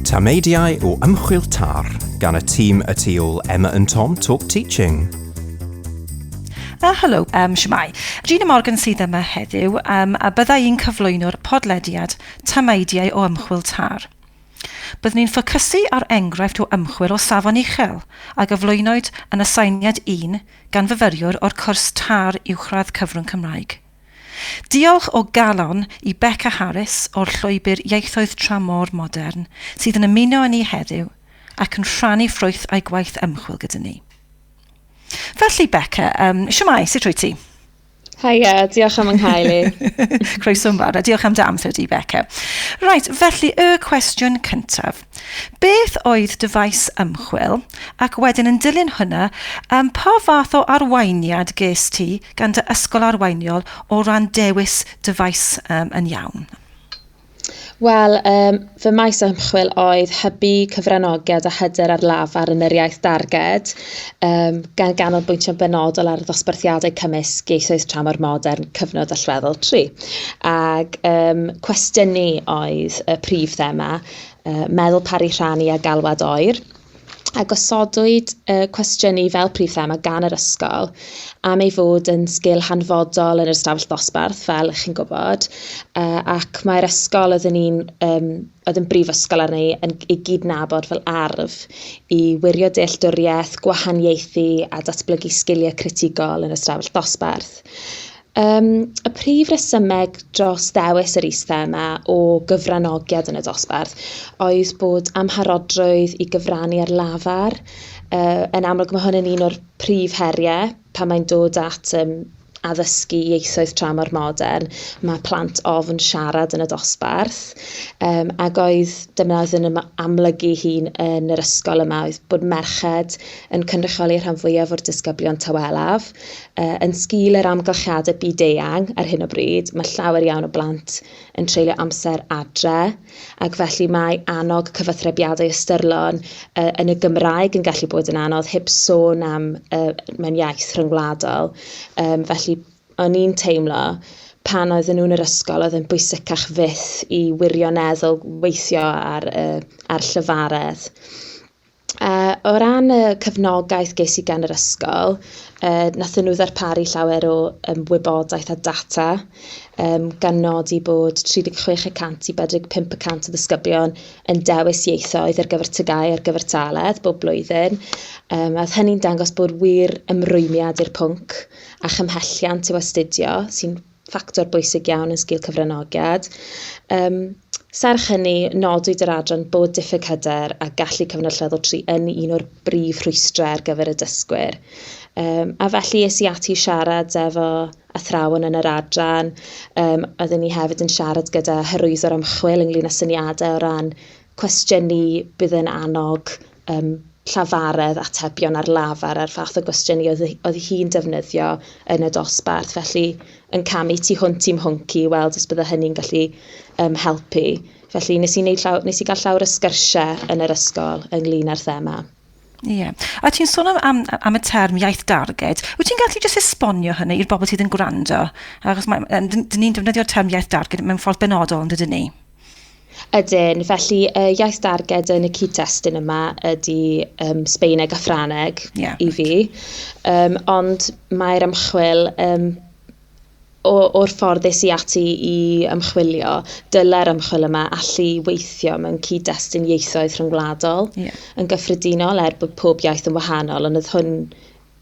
Tameidiau o ymchwil tar gan y tîm y tu ôl Emma and Tom Talk Teaching. Uh, helo, um, siamai. Gina Morgan sydd yma heddiw um, a byddai i'n cyflwyno'r podlediad Tameidiau o ymchwil tar. Byddwn ni'n ffocysu ar enghraifft o ymchwil o safon uchel a gyflwynwyd yn aseiniad un gan fyfyriwr o'r cwrs TAR Uwchradd Cyfrwng Cymraeg. Diolch o galon i Beca Harris o'r Llwybr Ieithoedd Tramor Modern sydd yn ymuno â ni heddiw ac yn rhannu ffrwyth a'i gwaith ymchwil gyda ni. Felly, Beca, um, siwmai, sut rwy ti? Haia, diolch am ynghau li. Croeso mawr, a diolch am dy amser di, Becca. Right, felly y cwestiwn cyntaf. Beth oedd dy faes ymchwil? Ac wedyn yn dilyn hwnna, um, pa fath o arweiniad ges ti gan dy ysgol arweiniol o ran dewis dy faes um, yn iawn? Wel, um, fy maes ymchwil oedd hybu cyfranogiad a hyder ar lafar yn yr iaith darged, um, gan ganolbwyntio'n benodol ar ddosbarthiadau cymysg ieithoedd tramor modern, cyfnod allweddol 3. Ac um, cwestiynu oedd y prif thema, uh, meddwl pari rhannu a galwad oer. a gosodwyd y cwestiynu fel prif thema gan yr ysgol am ei fod yn sgil hanfodol yn yr ystafell ddosbarth, fel ych chi'n gwybod, uh, ac mae'r ysgol oedd yn un um, oedd yn brifysgol arni yn ei gydnabod fel arf i wirio dealltwriaeth, gwahaniaethu a datblygu sgiliau critigol yn ystafell ddosbarth. Um, y prif resymeg dros ddewis yr is-thema o gyfranogiad yn y dosbarth oedd bod amharodrwydd i gyfrannu ar lafar. Uh, yn amlwg mae hwn yn un o'r prif heriau pan mae'n dod at um, addysgu ieithoedd tramor modern, mae plant ofn siarad yn y dosbarth, um, ac oedd dyna oedd yn amlygu hun yn yr ysgol yma, oedd bod merched yn cynrychioli rhan fwyaf o'r disgyblion tawelaf, Uh, yn sgil yr amgylchiadau byd-eang ar hyn o bryd, mae llawer iawn o blant yn treulio amser adre, ac felly mae annog cyfathrebiadau ystyrlon uh, yn y Gymraeg yn gallu bod yn anodd, heb sôn am uh, mewn iaith rhyngwladol. Um, felly, o'n i'n teimlo pan oedden nhw'n yr ysgol oedd yn bwysicach fyth i wirioneddol weithio ar, uh, ar llyfaredd. Yy o ran y cefnogaeth ges i gan yr ysgol, yy nathon nhw ddarparu llawer o yym wybodaeth a data, yym gan nodi bod 36 y cant i 45 y cant o ddisgyblion yn dewis ieithoedd ar gyfer TGAU ar gyfer TALED bob blwyddyn. Yym a oedd hynny'n dangos bod wir ymrwymiad i'r pwnc a chymhelliant i'w astudio sy'n ffactor bwysig iawn yn sgil cyfranogiad. Um, serch hynny, nodwyd yr adran bod diffyg hyder a gallu cyfnod lleddol tri yn un o'r brif rhwystrau ar gyfer y dysgwyr. Um, a felly es i ati siarad efo athrawon yn yr adran. Um, oedden ni hefyd yn siarad gyda hyrwyddwr ymchwil ynglyn â syniadau o ran cwestiynu bydd yn annog um, llafaredd atebion ar lafar a'r fath o gwestiynu oedd, oedd hi'n defnyddio yn y dosbarth. Felly, yn camu tu hwnt i'm hwnc i weld os bydde hynny'n gallu um, helpu. Felly, nes i, wneud llaw, nes i gael llawr y sgyrsiau yn yr ysgol ynglyn â'r thema. Ie. A ti'n sôn am am am y term iaith darged. Wyt ti'n gallu jyst esbonio hynny i'r bobl sydd yn gwrando? Achos mae yym dyn dyn ni'n defnyddio'r term iaith darged mewn ffordd benodol yndydyn ni? Ydyn. Felly y iaith darged yn y cyd-destun yma ydy um, Sbeineg a Ffraneg yeah, i fi. Um, ond mae'r ymchwil um, o, o'r ffordd es i ati i ymchwilio, dylai'r ymchwil yma allu weithio mewn cyd-destun ieithoedd rhyngwladol yeah. yn gyffredinol er bod pob iaith yn wahanol, ond oedd hwn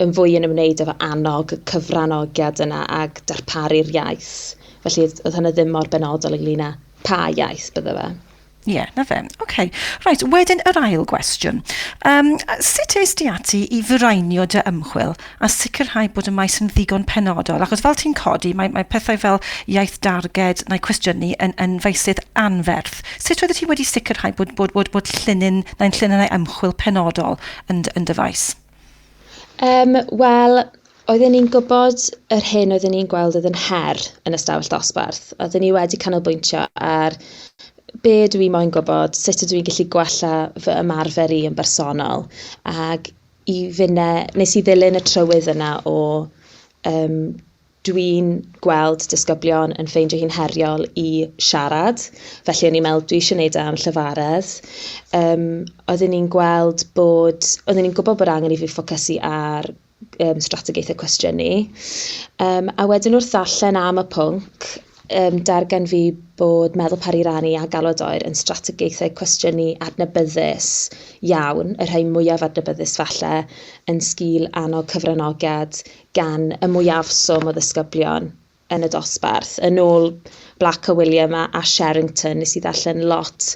yn fwy yn ymwneud efo annog y cyfranogiad yna ag darparu'r iaith. Felly oedd hynny ddim mor benodol ynglyn â pa iaith bydde fe. Ie, yeah, na fe. OK. Reit, wedyn yr ail gwestiwn. Um, sut eist ti ati i fraenio dy ymchwil a sicrhau bod y maes yn ddigon penodol? Achos fel ti'n codi, mae, mae pethau fel iaith darged neu cwestiynu yn, yn feisydd anferth. Sut oeddet ti wedi sicrhau bod, bod, bod, bod llinyn, neu'n llinynau ymchwil penodol yn, yn dyfaes? Um, Wel, Oedden ni'n gwybod yr hyn oedden ni'n gweld oedd yn her yn y stafell dosbarth. Oedden ni wedi canolbwyntio ar be dwi i moyn gwybod, sut ydw i'n gallu gwella fy ymarfer i yn bersonol. Ac i finne, nes i ddilyn y trywydd yna o um, dwi'n gweld disgyblion yn ffeindio hi'n heriol i siarad, felly o'n i'n meddwl dwi eisiau gwneud e am llyfaredd. Um, oedden ni'n gweld bod, oedden ni'n gwybod bod angen i fi ffocysu ar um, strategaethau cwestiynu. Um, a wedyn wrth ddarllen am y pwnc, um, dargan fi bod meddwl pari rannu a galwad oer yn strategaethau cwestiynu adnabyddus iawn, y rhai mwyaf adnabyddus falle, yn sgil annog cyfranogiad gan y mwyafswm o ddisgyblion yn y dosbarth. Yn ôl Black a William a, a Sherrington, nes i ddarllen lot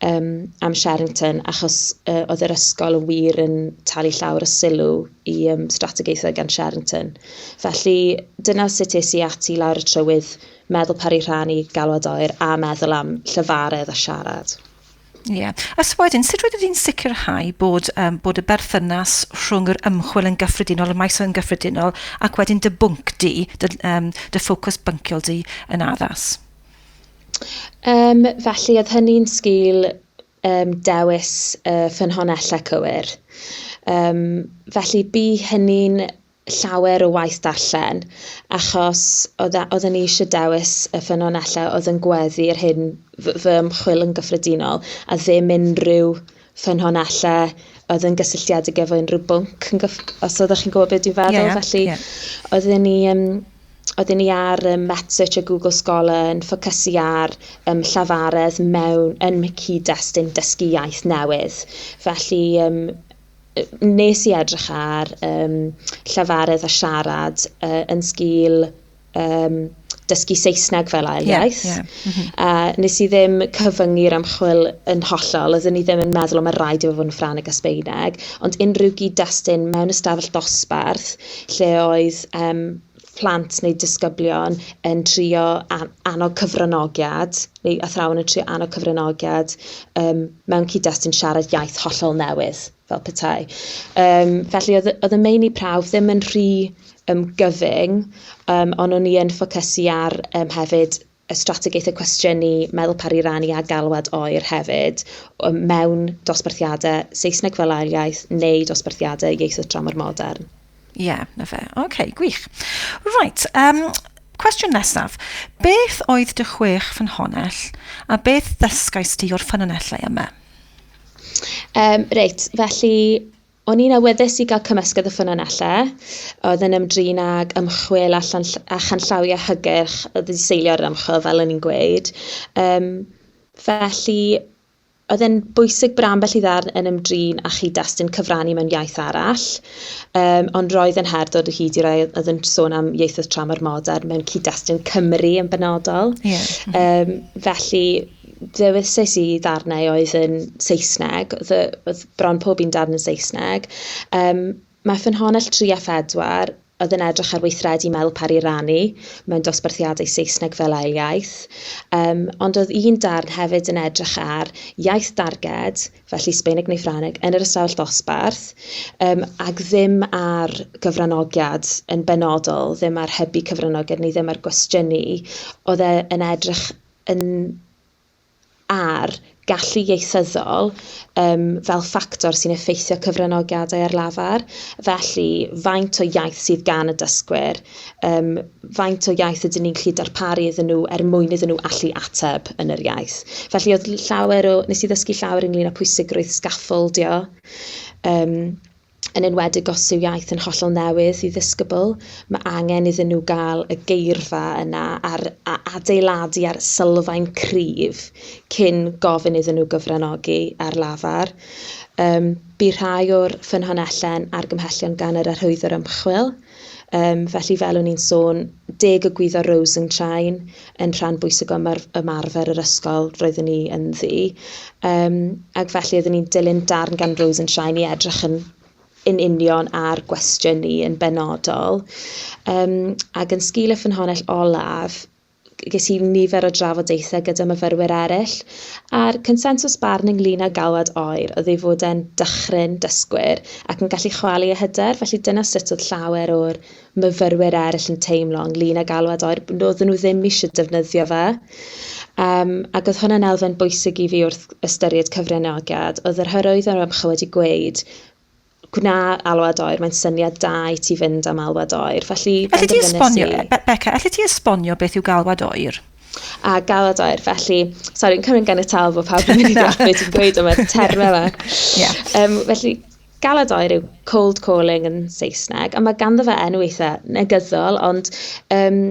um, am Sherrington, achos uh, oedd yr ysgol yn wir yn talu llawr y sylw i um, strategaethau gan Sherrington. Felly, dyna sut es i ati lawr y trywydd, meddwl pari rhan i galwad oer a meddwl am llyfaredd a siarad. Ie. A so wedyn, sut rydych chi'n sicrhau bod, um, bod y berthynas rhwng yr ymchwil yn gyffredinol, y maes yn gyffredinol, ac wedyn dy bwnc di, dy, um, dy ffocws bynciol di yn addas? Um, felly, oedd hynny'n sgil um, dewis uh, ffynhonellau cywir. Um, felly, bu hynny'n llawer o waith darllen, achos oedd, oedd yn eisiau dewis y ffynonellau oedd yn gweddu yr hyn fy ymchwil yn gyffredinol, a ddim unrhyw ffynonellau oedd yn gysylltiedig efo unrhyw bwnc, yn gyff... os oeddech chi'n gwybod beth dwi'n feddwl. Yeah, yeah, Felly, yeah. oedden ni... Um, oedden ni ar um, MetSearch a Google Scholar yn ffocysu ar um, llafaredd mewn yn cyd-destun dysgu iaith newydd. Felly, um, nes i edrych ar um, llafaredd a siarad uh, yn sgil um, dysgu Saesneg fel ail iaith. Yeah, yeah. Mm -hmm. uh, nes i ddim cyfyngu'r ymchwil yn hollol, oeddwn i ddim yn meddwl o mae rhaid i fod yn Ffraneg a Sbeineg, ond unrhyw gyd-destun mewn ystafell dosbarth lle oedd um, plant neu disgyblion yn trio annog cyfranogiad, neu athrawon yn trio annog cyfranogiad um, mewn cyd-destun siarad iaith hollol newydd, fel petai. Um, felly, oedd, oedd y meini prawf ddim yn rhy um, gyfyng, um, ond o'n i yn ffocysu ar um, hefyd y strategaethau cwestiynu, meddwl paru rannu a galwad oer hefyd mewn dosbarthiadau Saesneg fel ail iaith neu dosbarthiadau ieithoedd tramor modern. Ie, yeah, na fe. Oce, okay, gwych. Right, um, cwestiwn nesaf. Beth oedd dy chwech ffynhonell a beth ddysgais di o'r ffynonellau yma? Um, reit, felly O'n i'n awyddus i gael cymysgedd o ffynonellau oedd yn ymdrin ag ymchwil a, llan, a chanllawiau hygyrch y ddiseilio'r ymchwil, fel o'n i'n gweud. Um, felly, oedd e'n bwysig bod ambell i ddarn yn ymdrin â chi destun cyfrannu mewn iaith arall, um, ond roedd yn her dod o hyd i rai oedd yn sôn am ieithoedd tramor modern mewn cyd-destun Cymru yn benodol. Yeah. Um, felly, ddewisais i ddarnau oedd yn Saesneg, oedd y... oedd bron pob un darn yn Saesneg. Yym, mae ffynhonnell 3 a 4, oedd yn edrych ar weithredu meddwl pari rannu mewn dosbarthiadau Saesneg fel ail iaith. Yym, ond oedd un darn hefyd yn edrych ar iaith darged, felly Sbaeneg neu Ffrangeg, yn yr ystafell ddosbarth, um, ac ddim ar gyfranogiad yn benodol, ddim ar hybu cyfranogiad neu ddim ar gwestiynu, oedd e yn edrych yn ar gallu ieithyddol um, fel ffactor sy'n effeithio cyfranogiadau ar lafar, felly faint o iaith sydd gan y dysgwyr, um, faint o iaith ydyn ni'n gallu darparu iddyn nhw er mwyn iddyn nhw allu ateb yn yr iaith. Felly oedd llawer o, nes i ddysgu llawer ynglyn â pwysigrwydd sgaffyldio, um, yn enwedig os yw iaith yn hollol newydd i ddisgybl, mae angen iddyn nhw gael y geirfa yna ar, a adeiladu ar sylfaen cryf cyn gofyn iddyn nhw gyfranogi ar lafar. Um, bu rhai o'r ffynhonelle'n argymhellion gan yr arhwyddwr ymchwil, Yym, felly, fel o'n i'n sôn, deg o gwyddo Rose yn Train yn rhan bwysig o ymarfer yr ysgol roeddwn i ynddi. Um, ac felly oeddwn i'n dilyn darn gan Rose yn Train i edrych yn yn union ar gwestiwn ni yn benodol. Um, ac yn sgil y ffynhonnell olaf, ges i nifer o drafodaethau gyda myfyrwyr eraill, a'r consensws barn ynglŷn â galwad oer oedd ei fod e'n dychryn dysgwyr ac yn gallu chwalu eu hyder, felly dyna sut oedd llawer o'r myfyrwyr eraill yn teimlo ynglŷn â galwad oer, oedden nhw ddim eisiau defnyddio fe. Um, ac oedd hwnna'n elfen bwysig i fi wrth ystyried cyfraniagiad, oedd yr hyrwyddo o'r ymchwil wedi gweud gwna alwad oer, mae'n syniad da i ti fynd am alwad oer. Felly, Allet ti esbonio, i... Be Becca, allet ti esbonio beth yw galwad oer? A galwad oer, felly, sori, yn cymryd gan y tal bod pawb yn mynd i ddeall beth ti'n gweud yma, termau yma. yeah. um, felly, galwad oer yw cold calling yn Saesneg, a mae ganddo fe enw eitha negyddol, ond um,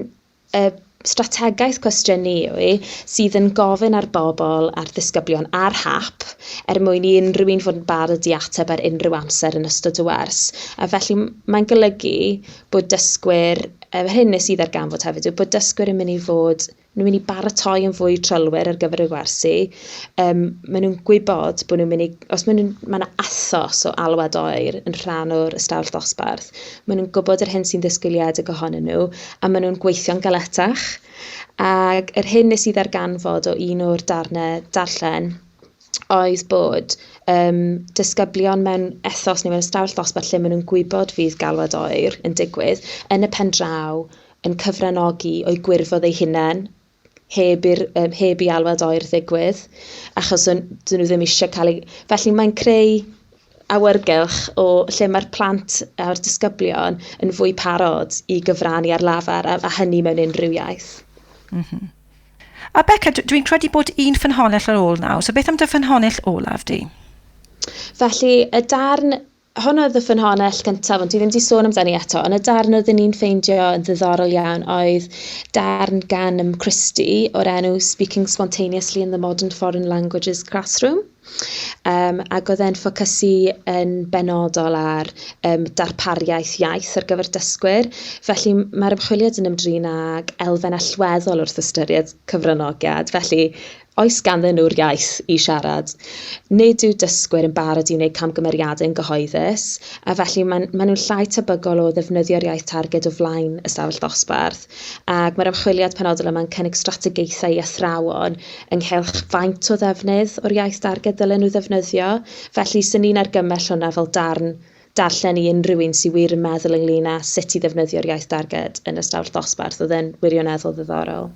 Y strategaeth cwestiynu yw e sydd yn gofyn ar bobl a'r ddisgyblion ar hap er mwyn i unrhyw un fod yn barod i ateb ar unrhyw amser yn ystod y wers. A felly mae'n golygu bod dysgwyr, yr hyn nes i ddarganfod hefyd yw bod dysgwyr yn mynd i fod nhw'n mynd i baratoi yn fwy trylwyr ar gyfer y gwersi. Um, maen nhw'n gwybod bod nhw'n mynd i, os maen nhw'n, mae yna athos o alwad oer yn rhan o'r ystafell ddosbarth, Maen nhw'n gwybod yr hyn sy'n ddisgwyliedig ohonyn nhw a maen nhw'n gweithio'n galetach. Ac yr hyn nes i ddarganfod o un o'r darnau darllen oedd bod um, disgyblion mewn ethos neu mewn ystafell ddosbarth lle maen nhw'n gwybod fydd galwad oer yn digwydd yn y pen draw yn cyfranogi o'i gwirfodd ei hunain heb i'r yym heb i alwad oer ddigwydd achos o'n... 'dyn nhw ddim eisiau cael eu... Felly mae'n creu awyrgylch o lle mae'r plant a'r disgyblion yn fwy parod i gyfrannu ar lafar a, a hynny mewn unrhyw iaith. Mm -hmm. A Beca, dwi'n credu bod un ffynhonnell ar ôl nawr, so beth am dy ffynhonnell olaf di? Felly, y darn Hwn oedd y ffynhonnell gyntaf, ond dwi ddim wedi sôn amdani eto, ond y darn oedd ni'n ffeindio yn ddiddorol iawn oedd darn gan ym Christie o'r enw Speaking Spontaneously in the Modern Foreign Languages Classroom. Um, ac oedd e'n ffocysu yn benodol ar um, darpariaeth iaith ar gyfer dysgwyr. Felly mae'r ymchwiliad yn ymdrin ag elfen allweddol wrth ystyried cyfranogiad. Felly Oes ganddyn nhw'r iaith i siarad? Nid yw dysgwyr yn barod i wneud camgymeriadau yn gyhoeddus, a felly maen maen nhw'n llai tebygol o ddefnyddio'r iaith targed o flaen ystafell ddosbarth, ac mae'r ymchwiliad penodol yma'n cynnig strategaethau i athrawon ynghylch faint o ddefnydd o'r iaith darged ddylen nhw ddefnyddio. Felly, 'sen ni'n argymell hwnna fel darn darllen i unrhyw un sydd wir yn meddwl ynglŷn â sut i ddefnyddio'r iaith darged yn ystafell ddosbarth. Oedd e'n wirioneddol ddiddorol.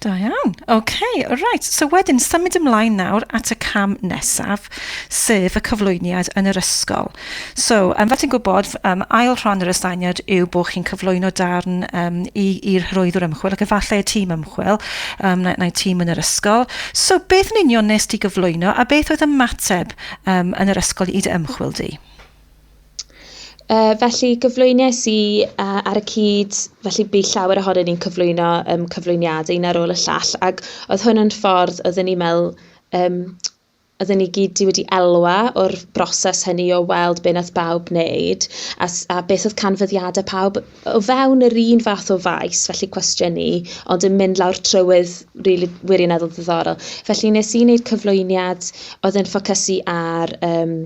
Da iawn. OK, reit. So wedyn, symud ymlaen nawr at y cam nesaf, sef y cyflwyniad yn yr ysgol. So, um, fel ti'n gwybod, um, ail rhan yr astyniad yw bod chi'n cyflwyno darn um, i'r hyrwyddwr ymchwil ac efallai y tîm ymchwil um, neu, neu tîm yn yr ysgol. So, beth yn union nes ti gyflwyno a beth oedd ymateb um, yn yr ysgol i dy ymchwil di? Yy felly gyflwyniais i yy ar y cyd felly bu llawer ohonyn ni'n cyflwyno yym cyflwyniadau un ar ôl y llall ac oedd hwn yn ffordd oedden ni'n me'wl yym oedden ni gyd 'di wedi elwa o'r broses hynny o weld be' nath bawb neud a s- a beth oedd canfyddiade pawb o fewn yr un fath o faes felly cwestiynu ond yn mynd lawr trywydd rili wirioneddol ddiddorol. Felly nes i neud cyflwyniad oedd yn ffocysu ar yym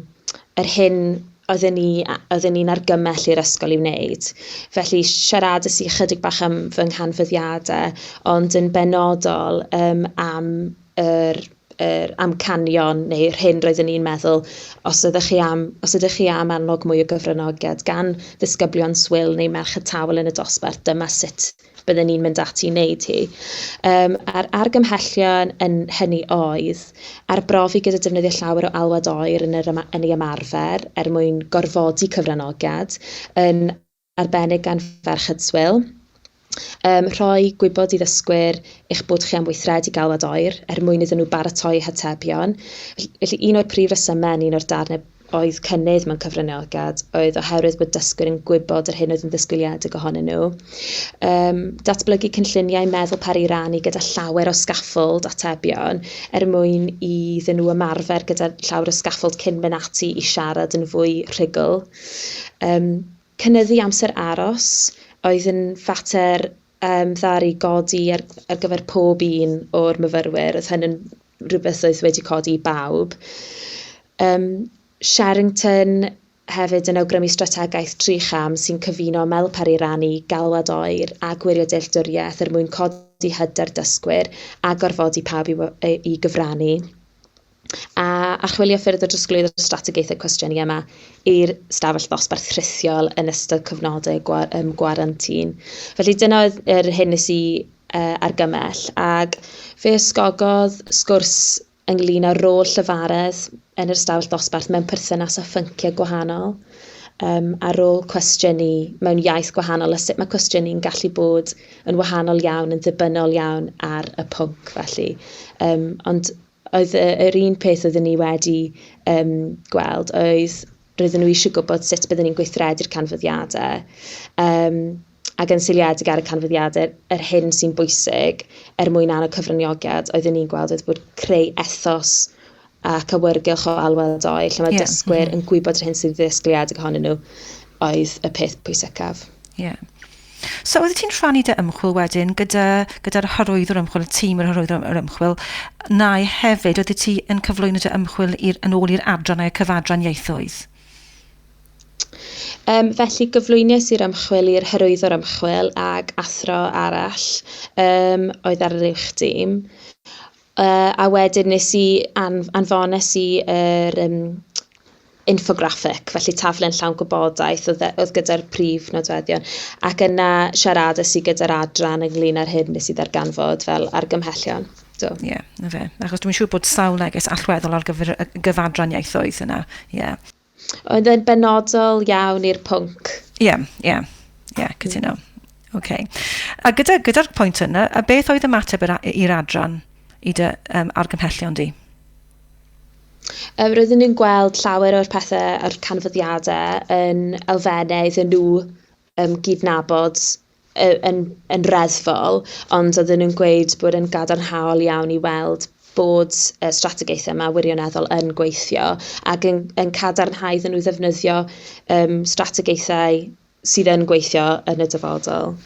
yr hyn oedden ni a- oedden ni'n argymell i'r ysgol i wneud. Felly siaradais i ychydig bach am fy nghanfyddiade, ond yn benodol yym am yr yr amcanion neu'r hyn roeddwn ni'n meddwl os ydych chi am os ydych chi am annog mwy o gyfranogiad gan ddisgyblion swil neu merched tawel yn y dosbarth dyma sut bydden ni'n mynd ati i wneud hi. Um, a'r argymhellion yn hynny oedd arbrofi gyda defnyddio llawer o alwad oer yn, yr, yn ei ymarfer er mwyn gorfodi cyfranogiad, yn arbennig gan ferched swil. Um, rhoi gwybod i ddysgwyr eich bod chi am weithredu galwad oer er mwyn iddyn nhw baratoi hatebion. Felly un o'r prif resymau yn un o'r darnau oedd cynnydd mewn cyfraniogad oedd oherwydd bod dysgwyr yn gwybod yr hyn oedd yn ddisgwyliedig ohonyn nhw. Um, datblygu cynlluniau meddwl peri ran i gyda llawer o sgaffold atebion er mwyn i ddyn nhw ymarfer gyda llawer o sgaffold cyn mynd ati i siarad yn fwy rhugl. Um, cynnyddu amser aros oedd yn fater Ym ddaru godi ar ar gyfer pob un o'r myfyrwyr, oedd hyn yn rhywbeth oedd wedi codi i bawb. Ym Sherrington hefyd yn awgrymu strategaeth tri cham sy'n cyfuno ymwelwpar i rannu galwad oer a gwirio dealltwriaeth er mwyn codi hyder dysgwyr a gorfodi pawb i i gyfrannu. a archwilio ffyrdd o drosglwyddo strategaethau cwestiynu yma i'r stafell ddosbarth rhithiol yn ystod cyfnodau gwa, um, gwarantin. Felly dyna oedd yr hyn nes i uh, argymell ac fe ysgogodd sgwrs ynglyn â'r rôl llyfaredd yn yr stafell ddosbarth mewn perthynas â phynciau gwahanol um, a rôl cwestiynu mewn iaith gwahanol a sut mae cwestiynu'n gallu bod yn wahanol iawn, yn ddibynnol iawn ar y pwnc felly. Um, ond oedd yr un peth oeddwn ni wedi um, gweld oedd roedden nhw eisiau gwybod sut byddwn ni'n gweithredu'r canfyddiadau um, ac yn seiliedig ar y canfyddiadau yr hyn sy'n bwysig er mwyn annog cyfraniogedd oeddwn ni'n gweld oedd bod creu ethos ac awyrgylch o alwad o'i lle mae yeah. dysgwyr mm -hmm. yn gwybod yr hyn sy'n ddisgwyliedig ohonyn nhw oedd y peth pwysicaf. Yeah. So oeddet ti'n rhannu dy ymchwil wedyn gyda, gyda'r hyrwyddwr ymchwil, y tîm yr hyrwyddwr yr ymchwil, nau hefyd oeddet ti yn cyflwyno dy ymchwil i'r, yn ôl i'r adran a'r cyfadran ieithoedd? Um, felly gyflwyniais i'r ymchwil i'r hyrwyddwr ymchwil ag athro arall um, oedd ar yr uwch dîm. Yy a wedyn nes i anf- anfones i yr yym infographic, felly taflen llawn gwybodaeth o'dd yy o'dd gyda'r prif nodweddion ac yna siarades i gyda'r adran ynglŷn â'r hyn nes i ddarganfod fel argymhellion. Do. Ie, yeah, 'na fe. Achos dwi'n siŵr bod sawl neges allweddol ar gyfer y gyfadran ieithoedd yna. Ie. Yeah. Oedd e'n benodol iawn i'r pwnc. Ie, ie, ie, cytuno. Oce. A gyda, gyda'r pwynt yna, a beth oedd ymateb yr a- i'r adran i dy um, argymhellion di? Um, roedden ni'n gweld llawer o'r pethau, o'r canfyddiadau yn elfennau iddyn nhw um, gydnabod yn, yn reddfol, ond oedden nhw'n gweud bod yn gadarnhaol iawn i weld bod y strategaethau yma wirioneddol yn gweithio ac yn, yn cadarnhau iddyn nhw ddefnyddio um, strategaethau sydd yn gweithio yn y dyfodol.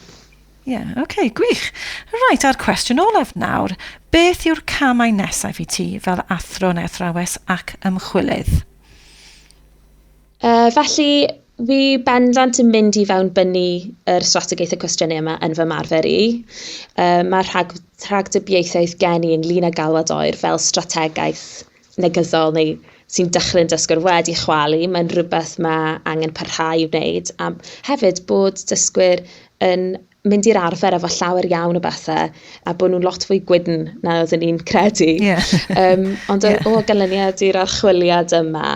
Ie, yeah, oce, okay, gwych. Rhaid, a'r cwestiwn olaf nawr, beth yw'r camau nesaf i ti fel athro neu athrawes ac ymchwilydd? Uh, felly, fi bendant yn mynd i fewn bynnu yr strategaeth y cwestiynau yma yn fy marfer i. Uh, mae rhag, rhagdybiaethaeth gen i ynglyn â galwad oer fel strategaeth negyddol neu sy'n dechrau'n dysgwr wedi chwalu. Mae'n rhywbeth mae angen parhau i wneud. A hefyd bod dysgwyr yn mynd i'r arfer efo llawer iawn o bethau a bod nhw'n lot fwy gwydn na oedden ni'n credu. Yeah. um, ond yeah. o ganlyniad i'r archwiliad yma,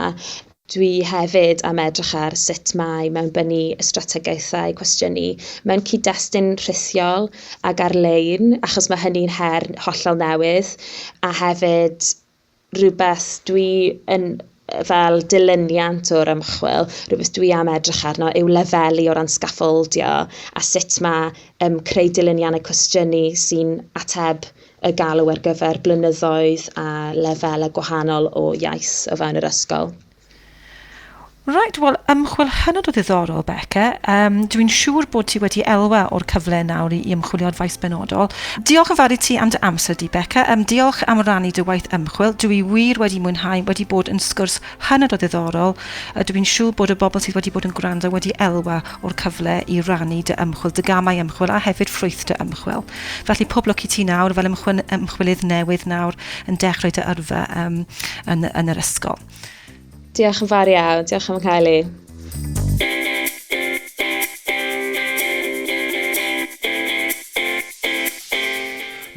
dwi hefyd am edrych ar sut mae mewn bynu y strategaethau cwestiynu mewn cyd-destun rhithiol ac ar-lein, achos mae hynny'n her hollol newydd, a hefyd rhywbeth dwi yn yy fel dilyniant o'r ymchwil, rhywbeth dwi am edrych arno yw lefelu o ran sgaffaldio a sut mae um, creu dilyniannau cwestiynu sy'n ateb y galw ar gyfer blynyddoedd a lefelau gwahanol o iaith o fewn yr ysgol. Reit, wel, ymchwil hynod o ddiddorol, Becca. Um, Dwi'n siŵr bod ti wedi elwa o'r cyfle nawr i, i ymchwilio ar faes benodol. Diolch yn fawr i ti am dy amser di, Becca. Um, diolch am rannu dy waith ymchwil. Dwi wir wedi mwynhau, wedi bod yn sgwrs hynod o ddiddorol. Uh, Dwi'n siŵr bod y bobl sydd wedi bod yn gwrando wedi elwa o'r cyfle i rannu dy ymchwil, dy gamau ymchwil a hefyd ffrwyth dy ymchwil. Felly pob lwc i ti nawr fel ymchwil, ymchwilydd newydd nawr yn dechrau dy yrfa um, yn, yn yr ysgol. Diolch yn fawr iawn, diolch am cael ei.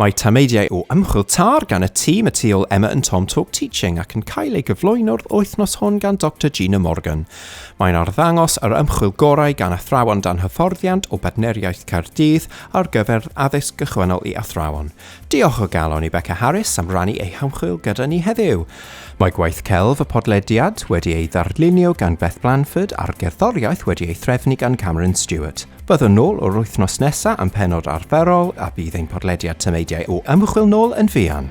Mae tameidiau o ymchwil tar gan y tîm y tu ôl Emma and Tom Talk Teaching ac yn cael ei gyflwyno'r wythnos hwn gan Dr Gina Morgan. Mae'n arddangos yr ymchwil gorau gan athrawon dan hyfforddiant o Badneriaeth Caerdydd ar gyfer addysg gychwynnol i athrawon. Diolch o galon i Beca Harris am rannu ei hymchwil gyda ni heddiw. Mae gwaith celf y podlediad wedi ei ddarlunio gan Beth Blanford a'r gerddoriaeth wedi ei threfnu gan Cameron Stewart. Byddwn nôl yr wythnos nesaf am penod arferol a bydd ein podlediad tameidiau o ymchwil nôl yn fuan.